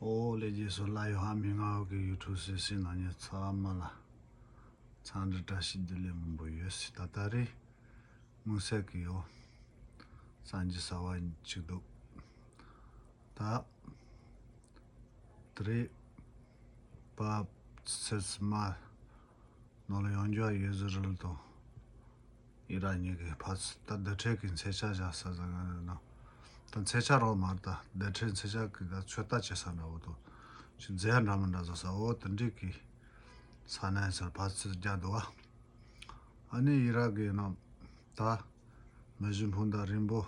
ཨོ་ལེ་རྗེས་སུ་བླ་ཡོ་ཧ་མི་ང་ཧོ་གི་ཡུལ་གྲུ་སེ་སེ་ནང་ཉེ་ཚ་མ་ལ་ཚང་འདྲི་བཀྲ་ཤིས་བདེ་ལེགས་མང་པོ་ཡོད་སྲིད་ད་ལྟ་རེ་དངུལ་ཟེག་གི་ཡོ་སངས་རྒྱས་ཟ་བ་གཅིག་འདུག་ད་དྲི་བ་ཚིལ་མ་ནོར་ལུག་ཡོངས་རྒྱུ་བ་ཡོས་ཟི་རུལ་དང་ཡི་ར་གཉིས་ཀྱི་བར་ཚུ་ད་བདེ་འཕྲལ་གྱི་མཚེ་ཆ་བཞག་ས་ཟ་ང་རེད་ནང་ད་མཚེ་ཆ་རོགས་མར་ད་བདེ་འཕྲལ་མཚེ་ཆ་གི་ད་ཚོད་ལྟ་བྱེད་ས་འདྲ་བོ་དང་ཆུ་རྫས་འདྲ་མི་འདྲ་བཟོ་ས་འོ་དེ་འདྲིས་གི་ས་ནས་ཚུར་བར་ཚུ་རྒྱག་དུ་བ་ཨ་ནི་ཡི་ར་གི་ནང་ད་མི་བཞི་འཕུང་ད་རིང་པོ།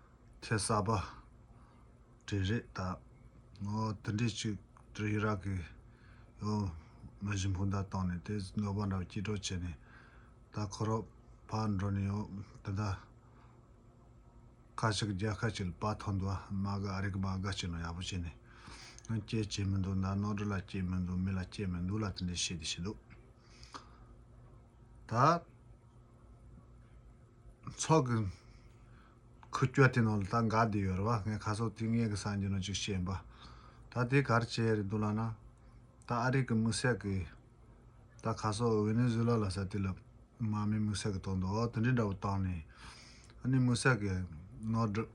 ཁྱེད་གསར་པ་དྲེད་རེད་ད། ངོ་དེ་འདྲས་ཅིག་དྲེད་ཡི་རག་གི་ཡོང། མི་བཞིན་སྤུན་ཟླ་བཏང་ནས་དེ་ནོར་བ་འདྲ་སྐྱིད་གྲོགས་བྱས་ནས། ད་ཁོ་རོག་ཕར་འགྲོ་ནས་ཡོང་དེ་འདྲ། ཁ་ཅིག་རྒྱ་ཁ་ཅིག་ལ་བག་ཐོག་འདུག་ཨ་མ་དགའ་ཨ་རིག་མ་དགའ་བྱས་ནོ་ཡག་པོ་བྱས་ནས། ཡང་སྐྱེལ་བྱས་མི་འདུག་ད་ནོར་འདྲ་ལ་སྐྱེལ་མི་འདུག་མི་ལ་སྐྱེལ་མི་འདུག་ལ་དེ་འདྲས་བྱས་དེ་བྱས་འདུག། ད། ཚོགས་ཀྱི། ཁུ་སྐྱོ་དེ་ནང་ལ་ད་འགག་དེ་ཡོད་རེད་བ་ངས་ཁ་སོག་དེ་ངེད་ཀྱི་སངས་རྒྱས་ནང་ཅིག་ཤེས་འབའ། ད་དེ་གར་བྱས་རེད་འདུག་ལགས་ན། ད་ཨ་རིག་གི་མུ་སེག་གི། ད་ཁ་སོག་ཝེ་ནེ་ཟུ་ལ་ལ་ས་དེ་ལ། མ་མའི་མུ་སེག་གི་ཐོག་འདུག་འོ་དེ་འདྲའི་འདྲ་བོ་བཏང་ནས། ཨ་ནི་མུ་སེག་གི། ནོར་འདྲི།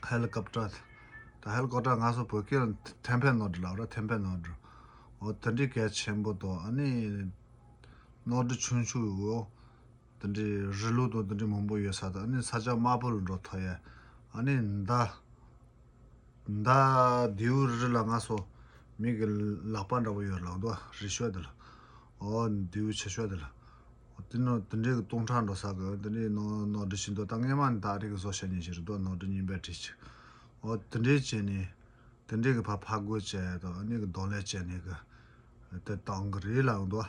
ཧེ་ལི་ཀོབ་ཏྲ། ད་ཧེ་ལི་ཀོབ་ཏྲ་ང་སོག་བོད་སྐད་ལ་ཐན་ཕན་ནོར་འདྲི་ལབ་ར་ཐན་ཕན་ནོར་འདྲི། འོ་དེ་འདྲའི་གལ་ཆེན་པོ་དང་ཨ་ནི། ནོར་འདྲི་ཆུང་ཆུང་ཡོད། འདི་འདྲའི་རི་ལུ་དང་འདི་འདྲའི་མང་པོ་ཡོད་ས་དང་ནི་ས་ཆ་དམར་པོ་ལ་འགྲོ་ཐག་ཡ། ཨ་ནི་མདའ། མདའ། རྡེའུ་རི་ལ་ང་སོ། མིག་གི་ལག་པ་འདྲ་པོ་ཡོད་ལགས་འདུག་རི་ཤོད་དེ་ལ། ཨོ། རྡེའུ་ཆེ་ཤོད་དེ་ལ། དེ་ནི་དེ་འདྲའི་གི་སྟོང་ཕྲག་འགྲོ་ས་གི་འདི་འདྲའི་ནོར་ནོར་འདྲི་བྱེད་འདུག་ད་སྔས་མ་ནི་ད་རེས་གི་བཟོ་བྱ་ཉེ་བྱེད་རེད་འདུག་ནོར་འདྲི་རྙིང་པའི་བྲིས་ཅིག། ཨོ། དེ་འདྲའི་བྱས་ནས། དེ་འདྲའི་གི་ཕ་ཕ་རྒོད་བྱས་དང་ཨ་ནི་གི་གདོང་ལས་བྱས་ནས་གི། དེ་དང་གི་རེད་ལགས་འདུག།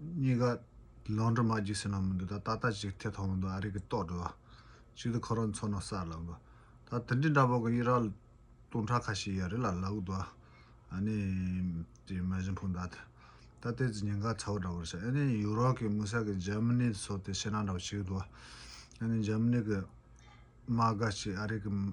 གཉིས་ཀ་ལོང་འགྲོ་མ་འཇིགས་ཟེར་ནང་མི་འདུག་ད་ད་ལྟ་ཅིག་མཐེ་ཐོག་མི་འདུག་ཨ་རིག་གི་ལྟོགས་འགྲོ་བ། ཅིག་ཏུ་ཁོ་རང་ཚོ་ནང་གསར་ལ་འགོ། ད་དེ་འདྲའི་འདྲ་པོ་གི་ཡི་རག་སྟོང་ཕྲག་ཁ་ཤས་ཡ་རི་ལ་ལ་འུག་འདུག་ཨ་ནི། དེ་མ་གཞི་འཕུང་ད་ད་ལྟ་ཏེ་ཙི་ཉེན་ཁ་ཚ་བོ་འདྲ་པོར་ཤར་ཨ་ནི་ཡུ་རོབ་ཀྱི་དམིགས་བསལ་གི་འཇར་མ་ནི་སོགས་ཏེ་ཤེས་ནང་འདྲ་པོ་ཞིག་འདུག་ཨ་ནི་འཇར་མ་ནི་གི་དམག་སྒར་ཅིག་ཨ་རིག་གི།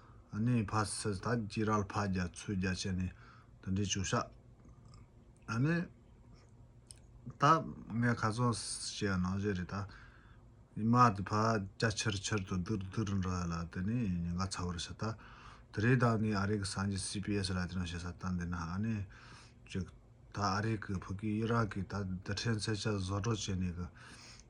ནས་ཕ་སི་ཐ་ཀྱི་རལ་ཕ་རྒྱ་མཚོའི་རྒྱ་ཆེ་ནས་དེ་འདྲའི་བྱོ་ཤ་ཨ་ནས་ད་ངས་ཁ་ཚོན་བྱས་ནང་བཞིན་རེད་ད་ཉི་མ་དེ་ཕ་རྒྱ་ཆིར་ཆིར་དུ་དུར་དུར་འདྲ་ལ་དེ་ནས་ཉིན་ག་ཚ་བར་བྱེད་ད་དེ་རེད་ད་ངས་ཨ་རིག་གི་སངས་རྒྱས་སི་པི་ཨེས་ལ་དེ་འདྲ་བྱེད་ས་ད་འདི་ན་ཨ་ནས་ཅིག་ད་ཨ་རིག་གི་བུ་གི་ཨི་རག་གི་ད་དེ་ཕྲན་ཚེ་ཆ་བཟོ་སྒྲོག་བྱས་ནས་གི་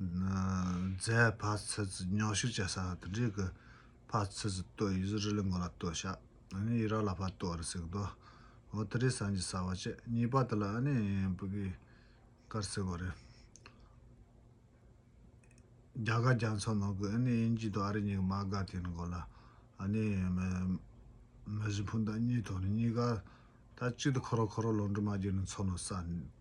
རྫས་བར་ཚེ་ཚུལ་ཉོག་ཤུགས་བྱེད་ས་དེ་འདྲའི་གི་བར་ཚེ་ཚུལ་བསྟོད་ཡུལ་ཟུར་རི་ལི་མགོ་ལ་བསྟོད་ཤག་ཨ་ནི་ཡི་རག་ལ་བར་བསྟོད་རི་སིག་མདོ་འོ་དེ་རི་སངས་ཀྱིས་ཟ་བ་བྱེད་གཉིས་པ་དེ་ལ་ཨ་ནི་བུ་པི་ཀར་སིག་གོ་རེད། རྒྱ་དགའ་རྒྱ་མཚོ་ནང་གི་ཨ་ནི་དབྱིན་ཇིའི་དོ་ཨ་རི་གཉིས་ཀི་མ་དགའ་དེ་ནི་གོ་ལ་ཨ་ནི་མི་བཞི་ཕུན་ད་གཉིས་དོ་ནི་གཉིས་ཀ་ད་གཅིག་ཏུ་ཁོ་རོ་ཁོ་རོ་ལོ་འབྲུ་མ་རྒྱུ་ནི་མཚོ་ནོ་ས